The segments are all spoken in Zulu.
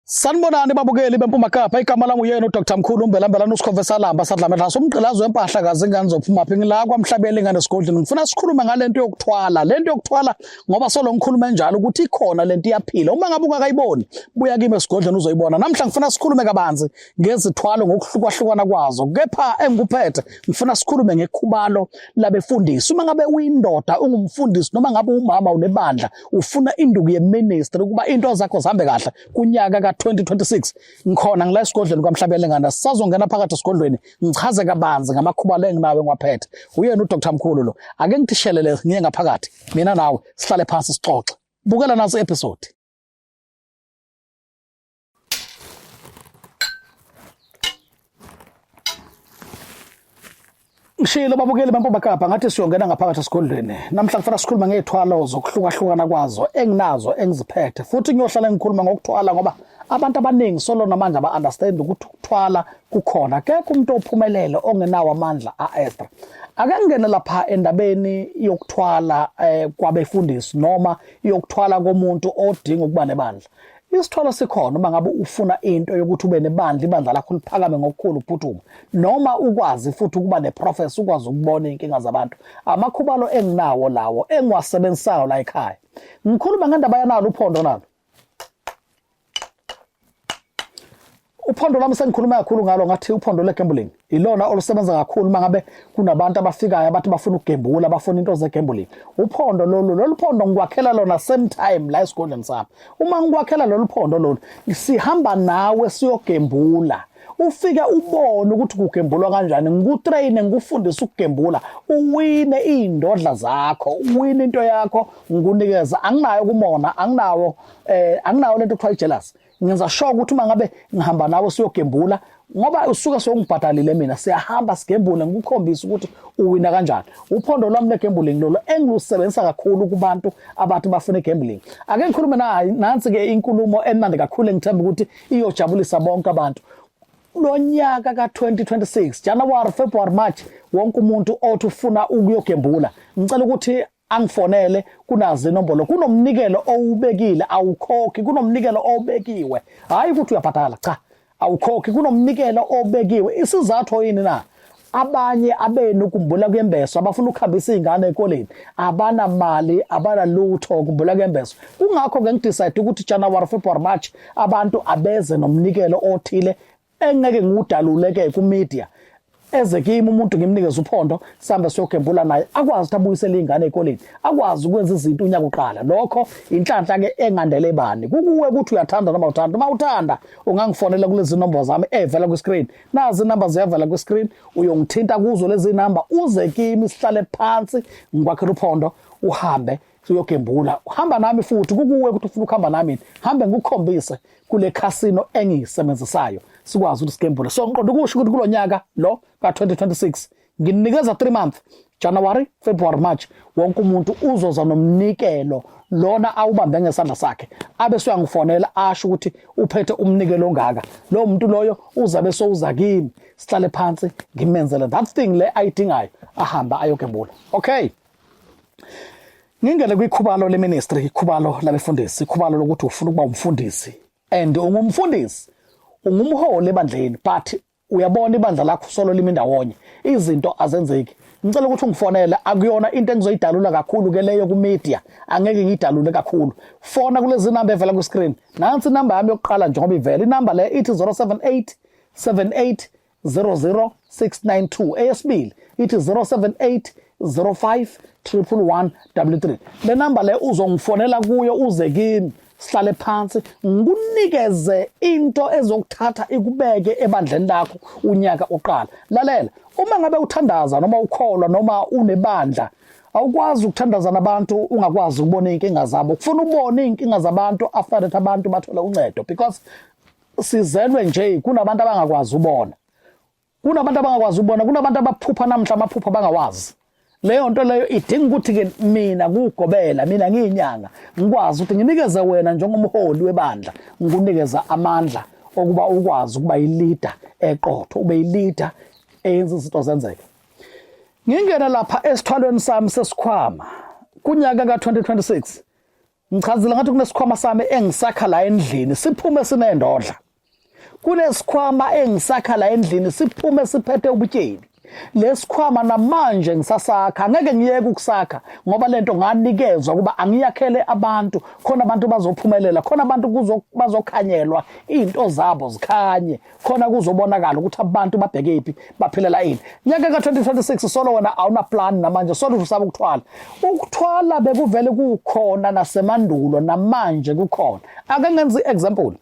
Sanibonani babukeli beMpuma Kapa igama lami uyena uDr Mkhulu Mbelambelana usikhove salamba sadlame laso umgqilazo wempahla kazi ingane zophuma phi ngila kwamhlabeli ingane sigodlini ngifuna sikhulume ngalento yokuthwala lento yokuthwala ngoba solo ngikhuluma enjalo ukuthi ikhona lento iyaphila uma ngabe ungakayiboni buya kimi esigodleni uzoyibona namhla ngifuna sikhulume kabanzi ngezithwalo ngokuhlukahlukana kwazo kepha engikuphethe ngifuna sikhulume ngekhubalo labefundisi uma ngabe uyindoda ungumfundisi noma ngabe umama unebandla ufuna induku yeministry ukuba into zakho zihambe kahle kunyaka ka-2026 ngikhona ngila esigodlweni kwamhlabelengana sisazongena phakathi esigodlweni ngichaze kabanzi ngamakhubalo enginawo engiwaphethe uyena udr mkhulu lo ake ngithishelele ngiye ngaphakathi mina nawe sihlale phansi sixoxe bukela naso episode Ngishilo babukeli bampoba kapa ngathi siyongena ngaphakathi esigodlweni. Namhla kufanele sikhuluma ngezithwalo zokuhlukahlukana kwazo enginazo engiziphethe futhi ngiyohlala ngikhuluma ngokuthwala ngoba abantu abaningi solo namanje aba understand ukuthi ukuthwala kukhona kekho umuntu ophumelele ongenawo amandla a extra. Ake ngene lapha endabeni yokuthwala eh, kwabefundisi noma yokuthwala komuntu odinga ukuba nebandla. Isithwalo sikhona uma ngabe ufuna into yokuthi ube nebandla ibandla lakho liphakame ngokukhulu ukuphuthuma noma ukwazi futhi ukuba neprofesi ukwazi ukubona inkinga zabantu amakhubalo enginawo lawo engiwasebenzisayo la ekhaya ngikhuluma ngendaba yanalo uphondo nalo Uphondo lami sengikhuluma kakhulu ngalo ngathi uphondo legambling ilona olusebenza kakhulu uma ngabe kunabantu abafikayo abathi bafuna ukugembula bafuna into zegambling uphondo lolu lolu phondo ngikwakhela lona same time la esigodleni sami uma ngikwakhela lolu phondo lolu sihamba nawe siyogembula ufike ubone ukuthi kugembulwa kanjani ngikutraine ngikufundise ukugembula uwine iy'ndodla zakho uwine into yakho ngikunikeza anginayo kumona anginawo um anginawo le nto kuthiwa i-jealousy ngenza sure ukuthi uma ngabe ngihamba nawe siyogembula ngoba usuke sewungibhadalile mina siyahamba sigembule ngikukhombisa ukuthi uwina kanjani uphondo lwami legambling lolo engilusebenzisa kakhulu kubantu abathi bafuna igambling ake ngikhulume naye nansi ke inkulumo emnandi kakhulu engithemba ukuthi iyojabulisa bonke abantu lonyaka ka2026 January February March wonke umuntu othi ufuna ukuyogembula ngicela ukuthi angifonele kunazi inombolo kunomnikelo owubekile awukhokhi kunomnikelo obekiwe hayi ukuthi uyabhadala cha awukhokhi kunomnikelo obekiwe isizathu yini na abanye abenu kumbula kwembeso abafuna ukuhambisa izingane ekoleni abana mali abana lutho kumbula kwembeso kungakho ke ngidecide ukuthi January February March abantu abeze nomnikelo othile engeke ngudalule ke ku media eze kimi umuntu ngimnikeze uphondo sihambe siyogembula naye akwazi ukuthi abuyisele ingane ekoleni akwazi ukwenza izinto unyaka uqala lokho inhlanhla ke engandele bani kukuwe ukuthi uyathanda noma uthanda uma uthanda ungangifonela kulezi number zami evela ku screen nazi number ziyavela ku screen uyongithinta kuzo lezi number uze kimi sihlale phansi ngikwakhela uphondo uhambe uyogembula uhamba nami futhi kukuwe ukuthi ufuna ukuhamba nami hambe ngikukhombise kule casino engiyisebenzisayo sikwazi ukuthi sigembule so ngiqonda ukusho ukuthi kulo nyaka lo ka-2026 nginikeza 3 month January February March wonke umuntu uzoza nomnikelo lona awubambe ngesandla sakhe abe soyangifonela asho ukuthi uphethe umnikelo ongaka lo muntu loyo uzabe sowuza kimi sihlale phansi ngimenzele that thing le ayidingayo ahamba ayogembula okay Ngingene kwikhubalo leministry, ikhubalo labefundisi, ikhubalo lokuthi ufuna ukuba umfundisi and ungumfundisi, ungumholi ebandleni but uyabona ibandla lakho solo limi ndawonye, izinto azenzeki. Ngicela ukuthi ungifonele, akuyona into engizoyidalula kakhulu ke leyo ku media, angeke ngiyidalule kakhulu. Fona kulezi number evela ku screen. Nansi number yami yokuqala njengoba ivela. Inumber le ithi 078 78 00692 eyesibili ithi 078 05 11133 le namba le uzongifonela kuyo uze kimi sihlale phansi ngikunikeze into ezokuthatha ikubeke ebandleni lakho unyaka uqala lalela uma ngabe uthandaza noma ukholwa noma unebandla awukwazi ukuthandaza nabantu ungakwazi ukubona inkinga zabo kufuna ubone inkinga zabantu after that abantu bathole uncedo because sizelwe nje kunabantu abangakwazi ubona kunabantu abangakwazi ubona kunabantu abaphupha namhla amaphupha bangawazi leyo nto leyo idinga ukuthi ke mina kugobela mina ngiyinyanga ngikwazi ukuthi nginikeze wena njengomholi webandla ngikunikeza amandla okuba ukwazi ukuba yilida eqotho ube yilida eyenza izinto zenzeke ngingena lapha esithwalweni sami sesikhwama kunyaka ka 2026 Ngichazile ngathi kunesikhwama sami engisakha la endlini siphume sinendodla. Kunesikhwama engisakha la endlini siphume siphethe ubutyebi. Lesikhwama namanje ngisasakha ngeke ngiyeke ukusakha ngoba lento nganikezwa kuba angiyakhele abantu khona abantu bazophumelela khona abantu bazokhanyelwa izinto zabo zikhanye khona kuzobonakala ukuthi abantu babheke iphi baphilela ini nyaka ka-2026 solo wena awunaplan namanje solo usaba ukuthwala ukuthwala bekuvele kukhona nasemandulo namanje kukhona ake ngenza i-example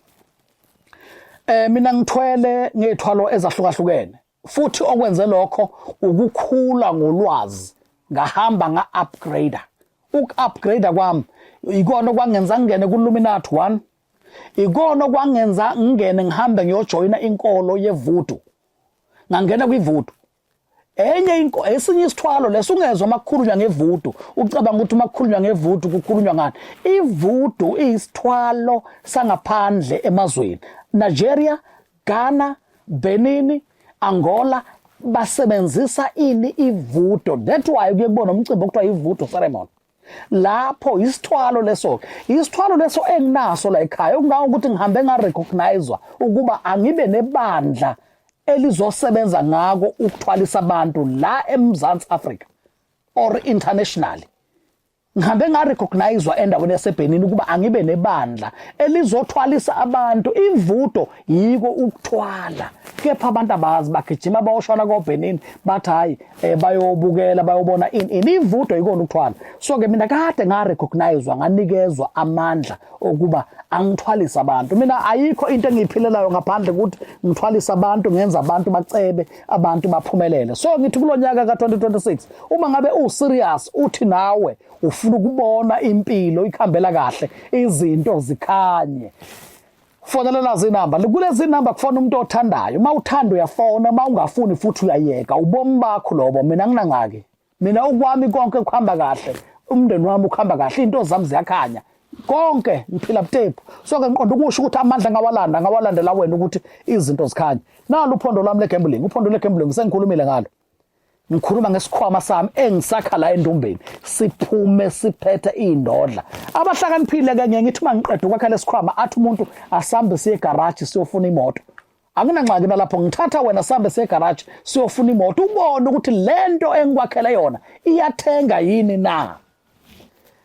eh mina ngithwele ngethwalo ezahlukahlukene futhi okwenze lokho ukukhula ngolwazi ngahamba nga upgrader uku upgrader kwami ikona okwangenza ngene ku Luminati 1 ikona okwangenza ngingene ngihambe ngiyojoyina inkolo yevudu ngangena kwivudu enye inko esinye isithwalo leso ungezwa makukhulunywa ngevudu ucabanga ukuthi makukhulunywa ngevudu kukhulunywa ngani ivudu isithwalo sangaphandle emazweni Nigeria Ghana Benin Angola basebenzisa ini ivudo that why kuye kubona umcimbi okuthiwa ivudo ceremony lapho isithwalo leso isithwalo leso enginaso la ekhaya okungawo ukuthi ngihambe nga recognizwa ukuba angibe nebandla elizosebenza ngako ukuthwalisa abantu la eMzansi Africa or internationally ngihambe nga recognizwa endaweni yaseBhenin ukuba angibe nebandla elizothwalisa abantu imvudo yiko ukuthwala kepha abantu abazi bagijima bayoshona koBenin bathi hayi eh, bayobukela bayobona in in imvudo yikona ukuthwala so ke mina kade nga recognizewa nganikezwa amandla okuba angithwalisa abantu mina ayikho into engiyiphilelayo ngaphandle ukuthi ngithwalisa abantu ngenza abantu bacebe abantu baphumelele so ngithi kulonyaka ka2026 uma ngabe u serious uthi nawe ufuna ukubona impilo ikhambela kahle izinto zikhanye Fonelela zinamba kulezi namba kufona umuntu othandayo uma uthanda uyafona uma ungafuni futhi uyayeka ubomi bakho lobo mina nginangaki mina ukwami konke kuhamba kahle umndeni wami ukuhamba kahle into zami ziyakhanya konke ngiphila butepu so ke ngiqonda ukusho ukuthi amandla ngawalanda ngawalandela wena ukuthi izinto zikhanye nalo uphondo lami legambling uphondo legambling sengikhulumile ngalo ngikhuluma ngesikhwama sami engisakha la endumbeni siphume siphethe indodla abahlakaniphile ke ngeke ngithi mangiqeda ukwakha lesikhwama athi umuntu asambe siye garage siyofuna imoto anginangxaki nalapho ngithatha wena sambe siye garage siyofuna imoto ubone ukuthi lento engikwakhele yona iyathenga yini na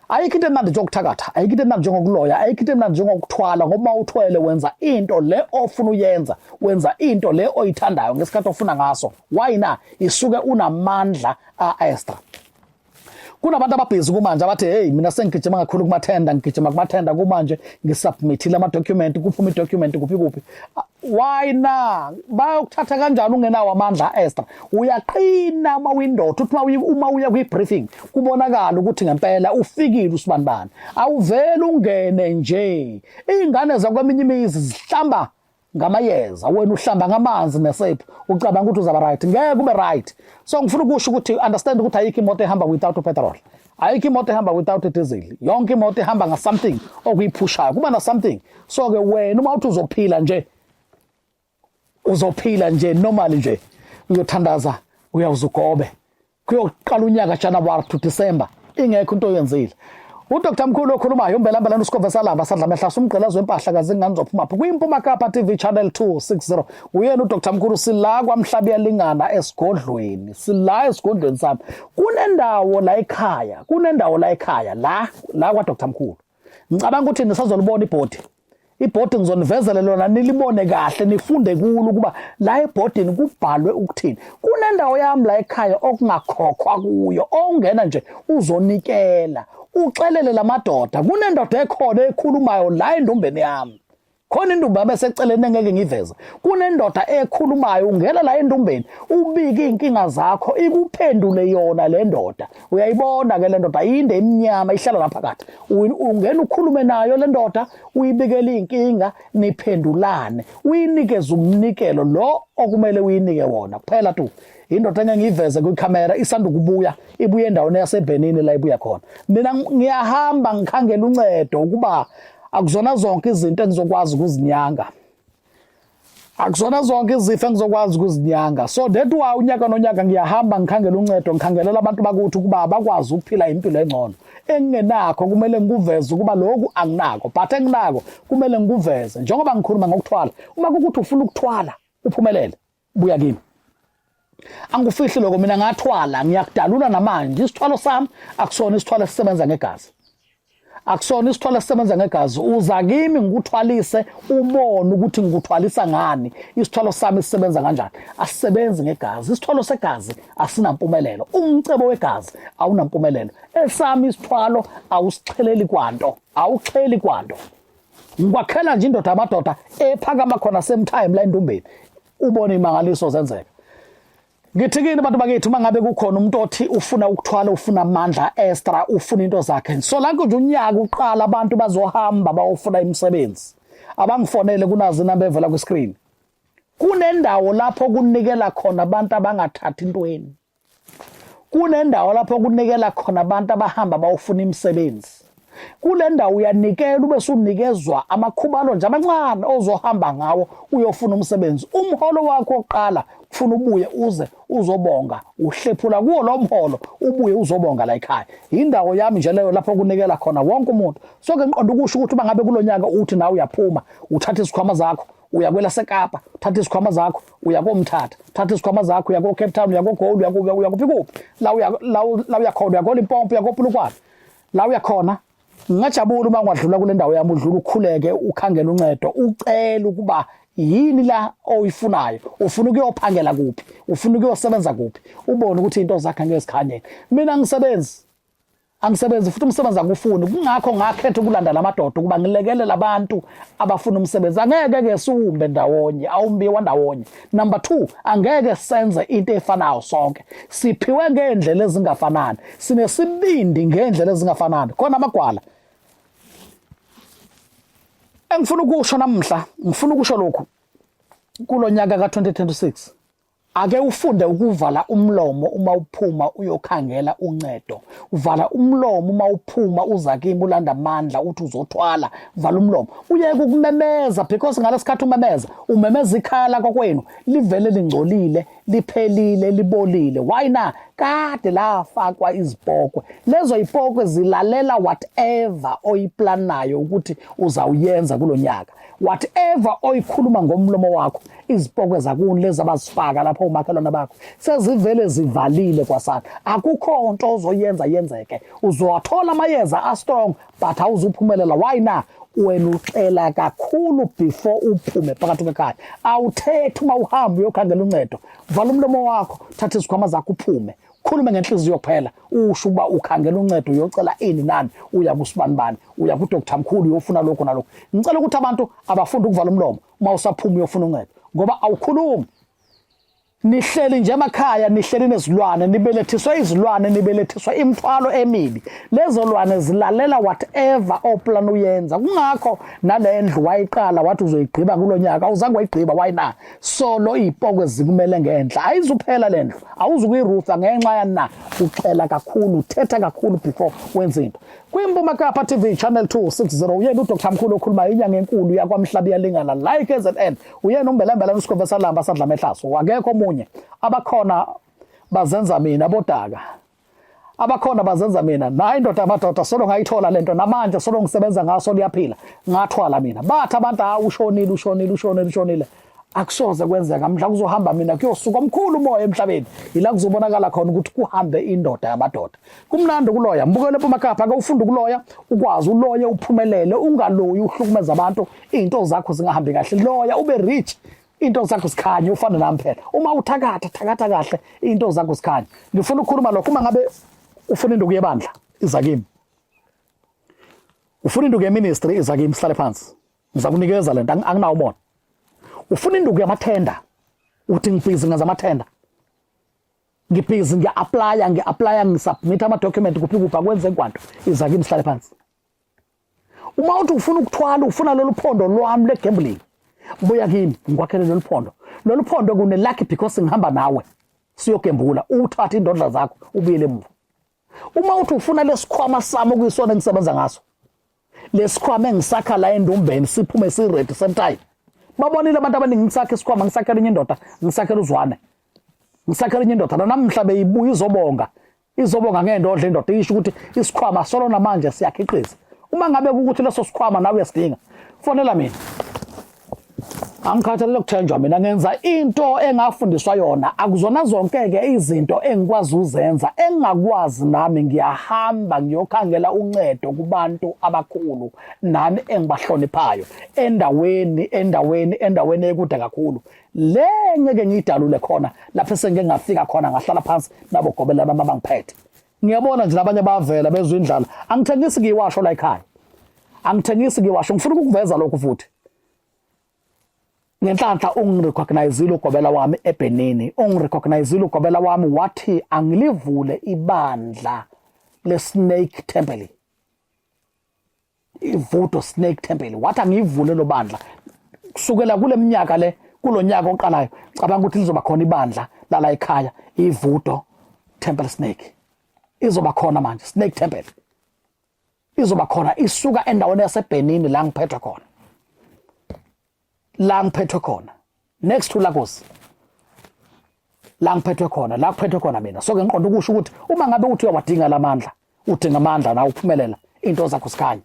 ayikho into emnandi njengokuthakatha ayikho into emnandi njengokuloya ayikho into emnandi njengokuthwala ngoba uma uthwele wenza into le ofuna uyenza wenza into le oyithandayo ngesikhathi ofuna ngaso why na isuke unamandla a-extra kunabantu ababhizi kumanje abathi hey mina sengigijima kakhulu kumathenda ngigijima kumathenda kumanje ngisubmithile amadocument kuphuma idocument kuphi kuphi why na bayokuthatha kanjani ungenawo amandla Esther uyaqina uma uyindoda uthi uma uya kwi briefing kubonakala ukuthi ngempela ufikile usibanibani awuvele ungene nje izingane zakweminye imizi zihlamba ngamayeza wena uhlamba ngamanzi nesephu ucabanga ukuthi uzaba right ngeke ube right so ngifuna ukusho ukuthi understand ukuthi ayikho imoto ehamba without petrol ayikho imoto ehamba without a diesel yonke imoto ihamba nga something okuyiphushayo kuba na something so ke wena uma uthi uzophila nje uzophila nje normal nje uyothandaza uyawuza ugobe kuyoqala unyaka January to December ingekho into oyenzile uDr Mkhulu okhulumayo umbelambela uSikhova Salaba sadla amehla sumgqelazo wempahla kaze ingane zophuma phi kwimpuma Kapa TV channel 260 uyena uDr Mkhulu sila kwamhlabi yalingana esigodlweni sila esigodlweni sami kunendawo la ekhaya kunendawo la ekhaya la la kwa Dr Mkhulu ngicabanga ukuthi nisazolibona ibhodi ibhodi ngizonivezele lona nilibone kahle nifunde kulo ukuba la ebhodini kubhalwe ukuthini kunendawo yami la ekhaya okungakhokhwa kuyo ongena nje uzonikela uxelele lamadoda kunendoda ekhona ekhulumayo la endombeni yami khona indumba yabeseceleni engeke ngiveze kunendoda ekhulumayo ungena la endumbeni ubike inkinga zakho ikuphendule yona le ndoda uyayibona ke le ndoda yinde emnyama ihlala lapha kathi ungena ukhulume nayo le ndoda uyibikele inkinga niphendulane uyinikeze umnikelo lo okumele uyinike wona kuphela tu indoda engeke ngiyiveze kwikhamera isanda ukubuya ibuye endaweni yaseBhenini la ibuya khona mina ngiyahamba ngikhangela uncedo ukuba akuzona zonke izinto engizokwazi ukuzinyanga akuzona zonke izifo engizokwazi ukuzinyanga so that why unyaka nonyaka ngiyahamba ngikhangela uncedo ngikhangelela abantu bakuthi ukuba bakwazi ukuphila impilo engcono engingenakho kumele ngikuveze ukuba lokhu anginako but enginako kumele ngikuveze njengoba ngikhuluma ngokuthwala uma kukuthi ufuna ukuthwala uphumelele buya kimi angikufihli lokho mina ngathwala ngiyakudalula namanje isithwalo sami akusona isithwalo esisebenza ngegazi akusona isithwalo esisebenza ngegazi uza kimi ngikuthwalise ubone ukuthi ngikuthwalisa ngani isithwalo sami sisebenza kanjani asisebenzi ngegazi isithwalo segazi asinampumelelo umcebo wegazi awunampumelelo esami isithwalo awusixheleli kwanto awuxheli kwanto ngikwakhela nje indoda amadoda ephakama khona same time la endumbeni ubone imangaliso zenzeka ngithi kini abantu bakithi uma ngabe kukhona umuntu othi ufuna ukuthwala ufuna amandla extra ufuna into zakhe so la nje unyaka uqala abantu bazohamba bawofuna imisebenzi abangifonele kunazi inamba evela kwi-screen kunendawo lapho kunikela khona abantu abangathathi intweni kunendawo lapho kunikela khona abantu abahamba bawufuna imisebenzi kule ndawo uyanikela ube sunikezwa amakhubalo nje amancane ozohamba ngawo uyofuna umsebenzi umholo wakho oqala kufuna ubuye uze uzobonga uhlephula kuwo lo mholo ubuye uzobonga la ekhaya yindawo yami nje leyo lapho kunikela khona wonke umuntu soke ngiqonda ukusho ukuthi uma ngabe kulonyaka uthi nawe uyaphuma uthatha izikhwama zakho uya kwelasekapa uthatha izikhwama zakho uya komthatha uthatha izikhwama zakho uya ko-cape town uya kogold uya kuphi uya kuphi kuphi la uya la u- la uya khona uya kolimpompo uya kopulukwane la uya khona ngingajabula uma ungadlula kule ndawo yami udlula ukhuleke ukhangela uncedo ucele ukuba yini la oyifunayo ufuna ukuyophangela kuphi ufuna ukuyosebenza kuphi ubone ukuthi into zakhe ngeke zikhanyele mina ngisebenzi angisebenzi futhi umsebenzi akufuni kungakho ngakhetha ukulanda lamadoda ukuba ngilekelele abantu abafuna umsebenzi angeke ke siwumbe ndawonye awumbiwa ndawonye number 2 angeke senze into efanayo sonke siphiwe ngeendlela ezingafanani sinesibindi ngeendlela ezingafanani khona amagwala engifuna ukusho namhla ngifuna ukusho lokhu kulonyaka ka 2026 Ake ufunde ukuvala umlomo uma uphuma uyokhangela uncedo. Uvala umlomo uma uphuma uza kimi ulanda amandla uthi uzothwala. Vala umlomo. Uyeke ukumemeza because ngalesikhathi umemeza, umemeza ikhala kokwenu livele lingcolile, liphelile, libolile. Why na? Kade lafakwa izipokwe. Lezo ipokwe zilalela whatever oyiplanayo ukuthi uzawuyenza kulonyaka. whatever oyikhuluma ngomlomo wakho izipokwe zakuni lezi abazifaka lapho umakhelwane bakho sezivele zivalile kwasana akukho nto ozoyenza yenzeke uzowathola amayeza astrong but awuzuphumelela why na wena ucela kakhulu before uphume phakathi kwekhaya awuthethi uma uhamba uyokhangela uncedo vala umlomo wakho thatha izikhwama zakho uphume khulume ngenhliziyo kuphela usho ukuba ukhangela uncedo uyocela ini nani uya kusibanibani uya kudoktar mkhulu uyofuna lokho nalokho ngicela ukuthi abantu abafunde ukuvala umlomo uma usaphuma uyofuna uncedo ngoba awukhulumi nihleli nje emakhaya nihleli nezilwane nibelethiswa izilwane nibelethiswa imthwalo emibi lezo lwane zilalela whatever oplan uyenza kungakho nale ndlu wayiqala wathi uzoyigqiba kulo nyaka awuzange wayigqiba why na so lo yipoko ezikumele ngenhla ayizuphela le ndlu awuzukuyirutha ngenxa yana uxela kakhulu uthetha kakhulu before wenza into kwimpuma kapa tv channel 260 uyena udr mkhulu okhuluma inyanga enkulu yakwamhlabi yalingana like ezn uyena umbelembela usikhove salamba sadla mehlaso akekho omunye abakhona bazenza mina bodaka abakhona bazenza mina nayi indoda yamadoda solo ngayithola lento namanje solo ngisebenza ngaso liyaphila ngathwala mina bathi abantu ha ushonile ushonile ushonile ushonile akusoze kwenzeka mhla kuzohamba mina kuyosuka omkhulu umoya emhlabeni yila kuzobonakala khona ukuthi kuhambe indoda yamadoda kumnandi ukuloya mbukele pomakapha ake ufunde ukuloya ukwazi uloye uphumelele ungaloyi uhlukumeza abantu izinto zakho zingahambi kahle loya ube rich into zakho sikhanye ufana nami phela uma uthakatha thakatha kahle into zakho sikhanye ngifuna ukukhuluma lokho uma ngabe ufuna induku yebandla iza kimi ufuna induku yeministry iza kimi sihlale phansi ngizakunikeza lento anginawo umona ufuna induku yamathenda uthi ngibhizi ngenza amathenda ngibhizi ngiya-aplaya ngi-aplaya ngisubmitha ama-document kuphi kuphi akwenze kwanto iza kimi sihlale phansi uma uthi ufuna ukuthwala ufuna lolu phondo lwami lwe-gambling buya kimi ngikwakhele lolu phondo lolu phondo kune-lucky because ngihamba nawe siyogembula uthathe indodla zakho ubuyele emuva uma uthi ufuna lesikhwama sami okuyisona engisebenza ngaso lesikhwama engisakha la endumbeni siphume siredi same time babonile abantu abaningi ngisakhe isikhwama ngisakhela enye indoda ngisakhela uzwane ngisakhela enye indoda nanamhla beyibuya izobonga izobonga ngendodla indoda isho ukuthi isikhwama solo namanje siyakhiqiza uma ngabe ukuthi leso sikhwama nawe uyasidinga fonela mina angikhathalele ukuthenjwa mina ngenza into engafundiswa yona akuzona zonke-ke izinto engikwazi uzenza engingakwazi nami ngiyahamba ngiyokhangela uncedo kubantu abakhulu nami engibahloniphayo endaweni endaweni endaweni ekude kakhulu le ngeke ngiyidalule khona lapho esengike ngafika khona ngahlala phansi nabo gobelana uma bangiphethe ngiyabona nje labanye bavela bezwe indlala angithengisi ngiyiwasho la ekhaya angithengisi ngiyiwasho ngifuna ukukuveza lokhu futhi ngenhlanhla ungirecognizile ugobela wami ebhenini ungirecognizile ugobela wami wathi angilivule ibandla le-snake temple ivudo snake temple wathi angiyivule lo bandla kusukela kule minyaka le kulo nyaka oqalayo cabanga ukuthi lizoba khona ibandla lala ekhaya ivudo temple snake izoba khona manje snake temple izoba khona isuka endaweni yaseBhenini la ngiphethwe khona la ngiphethwe khona next to Lagos la ngiphethwe khona la kuphethwe khona mina so ke ngiqonda ukusho ukuthi uma ngabe uthi uyawadinga lamandla udinga amandla na uphumelela into zakho sikhanye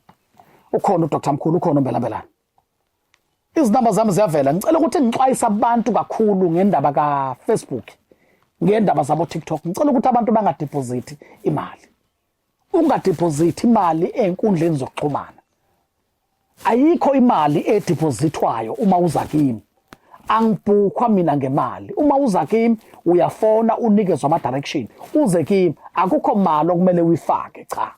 ukhona uDr Mkhulu ukhona umbelambelana izinamba zami ziyavela ngicela ukuthi ngixwayise abantu kakhulu ngendaba ka Facebook ngendaba zabo TikTok ngicela ukuthi abantu bangadeposit imali ungadiphozithi imali ezinkundleni zokuxhumana ayikho imali edipozithwayo uma uza kimi angibhukhwa mina ngemali uma uza kimi uyafona unikezwa ama-direction uze kimi akukho mali okumele uyifake cha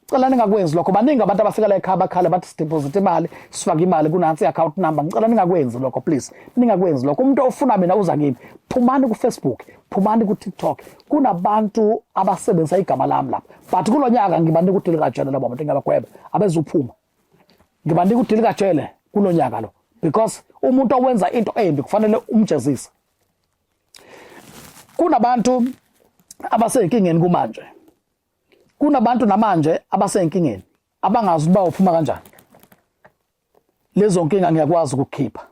cela ningakwenzi lokho baningi abantu abafika la ekhaya bakhala bathi sideposit imali sifake imali kunansi i-account number ngicela ningakwenzi lokho please ningakwenzi lokho umuntu ofuna mina uza kimi phumani kufacebook phumani kutiktok kunabantu abasebenzisa igama lami lapha but kulo nyaka ngibanika udili kajele labo bantu ngiyabagweba abezuphuma ngibanika udili kajele kulo nyaka lo because umuntu owenza into embi kufanele umjezise kunabantu abasenkingeni kumanje kunabantu namanje abasenkingeni abangazi uba uphuma kanjani lezo nkinga ngiyakwazi ukukhipha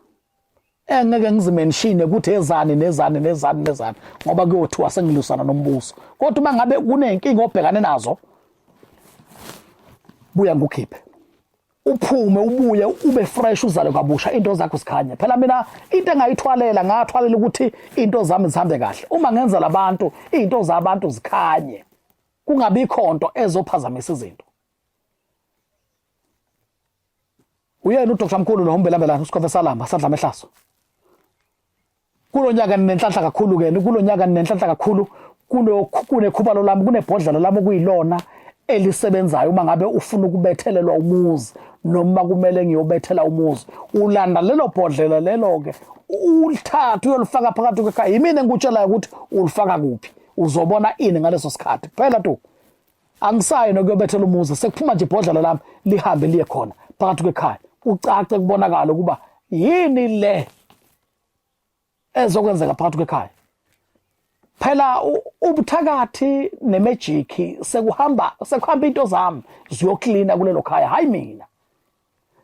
engeke eh, ngizimenshine ukuthi ezani nezani nezani nezani ngoba kuyothiwa sengilusana nombuso kodwa uma ngabe kunenkinga obhekane nazo buya ngukhiphe uphume ubuye ube fresh uzale kabusha into zakho sikhanya phela mina into engayithwalela ngathwalela ukuthi into zami zihambe kahle uma ngenza labantu izinto zabantu zikhanye kungabikho nto ezophazamisa izinto Uyena uDr Mkhulu lo umbelambelana uSkhove Salamba sadla mehlaso. Kulonyaka ninenhlanhla kakhulu ke kulonyaka ninenhlanhla kakhulu kulokhu kunekhubalo lami kunebhodlela lami okuyilona elisebenzayo uma ngabe ufuna ukubethelelwa umuzi noma kumele ngiyobethela umuzi ulanda lelo bhodlela lelo ke ulithatha uyolifaka phakathi kwekhaya yimina engikutshelayo ukuthi ulifaka kuphi uzobona ini ngaleso sikhathi phela tu angisayi nokuyobethela umuzi sekuphuma nje ibhodlela lami lihambe liye khona phakathi kwekhaya ucace kubonakala ukuba yini le ezokwenzeka phakathi kwekhaya phela ubuthakathi nemejiki sekuhamba sekuhamba into zami ziyoklina kulelo khaya hayi mina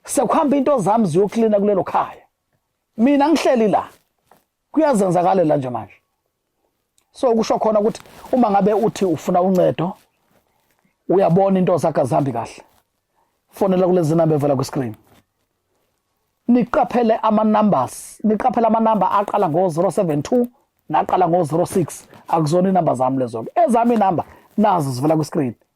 sekuhamba into zami ziyoklina kulelo khaya mina ngihleli la kuyazenzakalela nje manje so kusho khona ukuthi uma ngabe uthi ufuna uncedo uyabona into zakhe azihambi kahle fonela kulezi namba evela kwiscreen niqaphele ama-numbers niqaphele amanamba aqala ngo-072 naqala ngo-06 akuzona inamba zami lezo-ke ezami inamba nazo zivela kwiscreen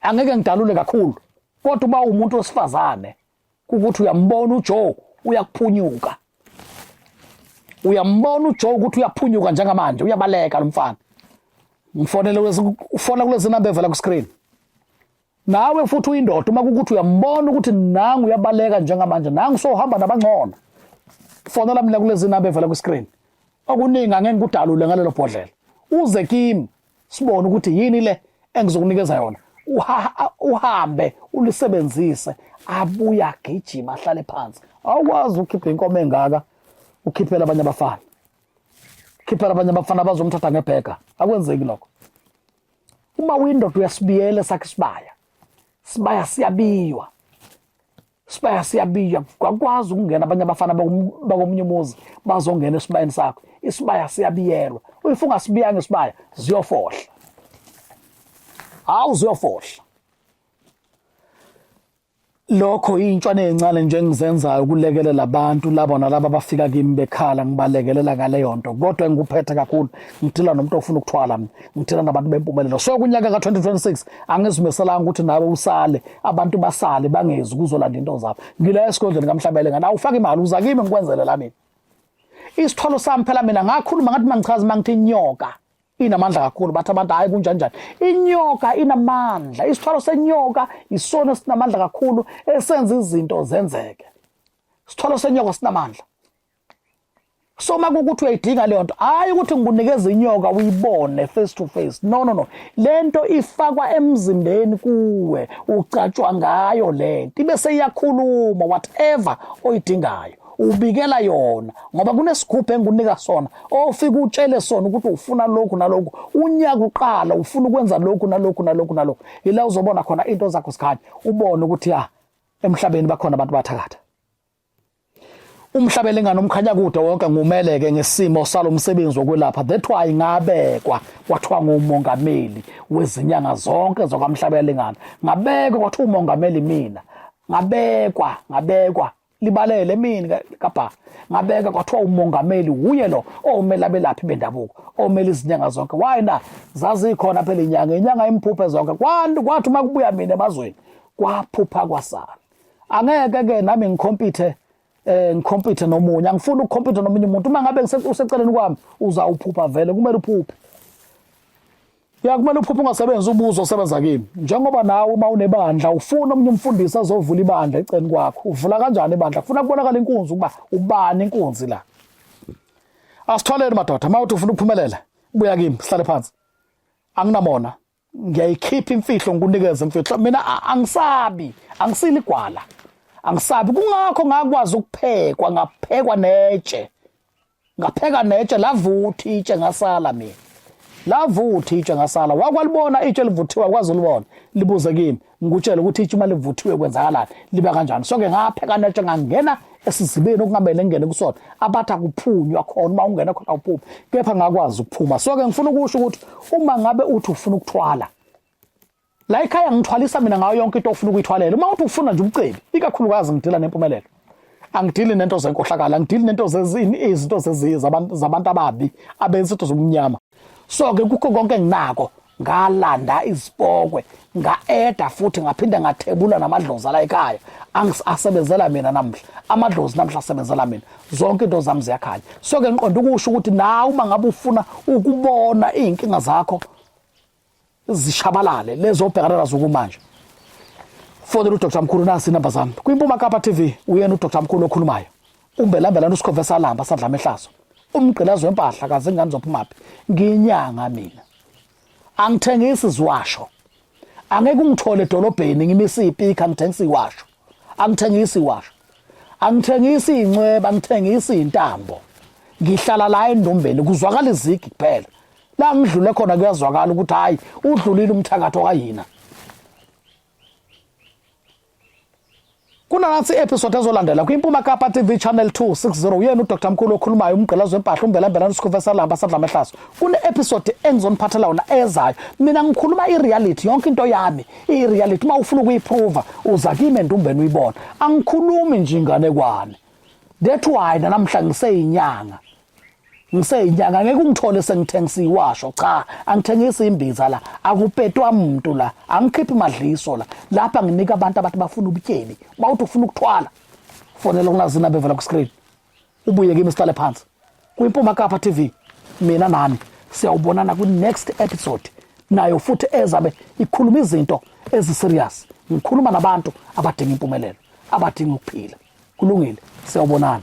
angeke ngidalule kakhulu kodwa uba umuntu wesifazane ukuthi uyambona uJoe uyakuphunyuka uyambona uJoe ukuthi uyaphunyuka njengamanje uyabaleka lo mfana ngifonele ufona kulezi namba evela ku screen nawe futhi uyindoda uma kukuthi uyambona ukuthi nangu uyabaleka njengamanje nangu sohamba nabangcono fonela mina kulezi namba evela ku screen okuningi angeke ngikudalule ngalelo bhodlela uze kimi sibone ukuthi yini le engizokunikeza yona uhambe ulisebenzise abuye agijima ahlale phansi awukwazi ukhiphe inkomo engaka ukhiphela abanye abafana khiphela abanye abafana bazomthatha ngebhega akwenzeki lokho uma uyindoda uyasibiyela sakhe isibaya sibaya siyabiywa Sibaya siyabiya kwakwazi ukungena abanye abafana bakomunye umuzi bazongena esibayeni sakho isibaya siyabiyelwa if ungasibiyanga isibaya ziyofohla hawu ziyofohla lokho intshwane encane nje engizenzayo ukulekelela abantu labo nalabo abafika kimi bekhala ngibalekelela ngaleyo nto kodwa engikuphethe kakhulu ngidila nomuntu ofuna ukuthwala mina ngithela nabantu bempumelelo so kunyaka ka-2026 angizimeselanga ukuthi nawe usale abantu basale bangezi kuzolanda into zabo ngila esigodlweni kamhlabele ngani awufake imali uza kimi ngikwenzele la mina isithwalo sami phela mina ngakhuluma ngathi mangichaza uma ngithi inyoka inamandla kakhulu bathi abantu hhayi kunjanjani inyoka inamandla isithwalo senyoka isona sinamandla kakhulu esenza izinto zenzeke isithwalo senyoka sinamandla so uma kukuthi uyayidinga leyo nto hhayi ukuthi ngikunikeza inyoka uyibone face to face no no no le nto ifakwa emzimbeni kuwe ugcatshwa ngayo le nto ibe seyiyakhuluma whatever oyidingayo ubikela yona ngoba kunesigubhu engunika sona ofika utshele sona ukuthi ufuna lokhu nalokhu unyaka uqala ufuna ukwenza lokhu nalokhu nalokhu nalokhu yila uzobona khona into zakho sikhanya ubone ukuthi ya ah, emhlabeni bakhona abantu bathakatha umhlabele ingane umkhanya kude wonke ngumeleke ngesimo salomsebenzi wokwelapha that why ngabekwa kwathiwa ngumongameli wezinyanga zonke zokwamhlabela lengane ngabekwa kwathiwa umongameli mina ngabekwa ngabekwa libalele mini kabha ngabeka kwathiwa umongameli wuye lo omele abelaphi bendabuko omele izinyanga zonke why na zazikhona phela inyanga inyanga imphuphe zonke kwathi uma kubuya mina emazweni kwaphupha kwasala angeke ke nami ngikhompithe eh ngikhompithe nomunye angifuni ukukhompitha nomunye umuntu uma ngabe useceleni kwami uzawuphupha vele kumele uphuphe ya kumele uphuphe ungasebenzi ubuzo osebenza kimi njengoba nawe uma unebandla ufuna omunye umfundisi azovula ibandla eceleni kwakho uvula kanjani ibandla kufuna kubonakala inkunzi ukuba ubani inkunzi la asitholeni madoda uma uthi ufuna ukuphumelela buya kimi sihlale phansi anginamona ngiyayikhipha imfihlo ngikunikeza imfihlo mina angisabi angisili gwala angisabi kungakho ngakwazi ukuphekwa ngaphekwa netshe ngapheka netshe lavuthi itshe ngasala mina lavuthi itshe ngasala wakwalibona itshe livuthiwa kwazi ulibona libuze kimi ngikutshele ukuthi itshe uma livuthiwe kwenzakalani liba kanjani so-ke ngaphekana tshe ngangena esizibeni okungamele ngingene kusona abathi akuphunywa khona uma ungena khona awuphumi kepha ngakwazi ukuphuma so-ke ngifuna ukusho ukuthi uma ngabe uthi ufuna ukuthwala la ekhaya ngithwalisa mina ngayo yonke into ofuna ukuyithwalela uma uthi ufuna nje ubucebi ikakhulukazi ngidila nempumelelo angidili nento zenkohlakala angidili nento zezini izinto zeziyi zabantu ababi abenza into zobumnyama so-ke kukho konke enginako ngalanda izipokwe nga-eda futhi ngaphinde ngathebula namadlozi ala ekhaya asebenzela mina namhla amadlozi namhla asebenzela mina zonke into zami ziyakhanya so-ke ngiqonda ukusho ukuthi nawe uma ngabe ufuna ukubona iy'nkinga zakho zishabalale lezobhekana nazo kumanje fonela udr mkhulu nasi inamba zami kwimpuma kapa tv uyena udr mkhulu okhulumayo umbelambela lana usikhove salamba sadla amehlazo umgqilazi wempahla kaze ingane zophumaphi ngiyinyanga mina angithengisi ziwasho angeke ungithole edolobheni ngimisa ipika ngithengisa iwasho angithengisi iwasho angithengisi incweba ngithengisa intambo ngihlala la endombeni kuzwakala izigi kuphela la ngidlule khona kuyazwakala ukuthi hayi udlulile umthakathi okayina kunansi episode ezolandela kwimpuma kapa tv channel 260 uyena udr mkhulu okhulumayo umgqilazi wempahla umbelambelana usikhuve salamba sadla amahlaso kune-episode engizoniphathela wona ezayo mina ngikhuluma i-reality yonke into yami i-reality uma ufuna ukuyiphruva uza kimi endumbeni uyibona angikhulumi nje inganekwane that's why nanamhla ngiseyinyanga ngiseyinyanga ngeke ungithole sengithengisa iwasho cha angithengisi imbiza la akupetwa muntu la angikhiphi madliso la lapha nginika abantu abathi bafuna ubutyebi bawuthi ufuna ukuthwala fonela kunazina bevela ku screen ubuye kimi sihlale phansi kwimpuma kapha tv mina nami siyawubonana kwi next episode nayo futhi ezabe ikhuluma izinto eziserious ngikhuluma nabantu abadinga impumelelo abadinga ukuphila kulungile siyawubonana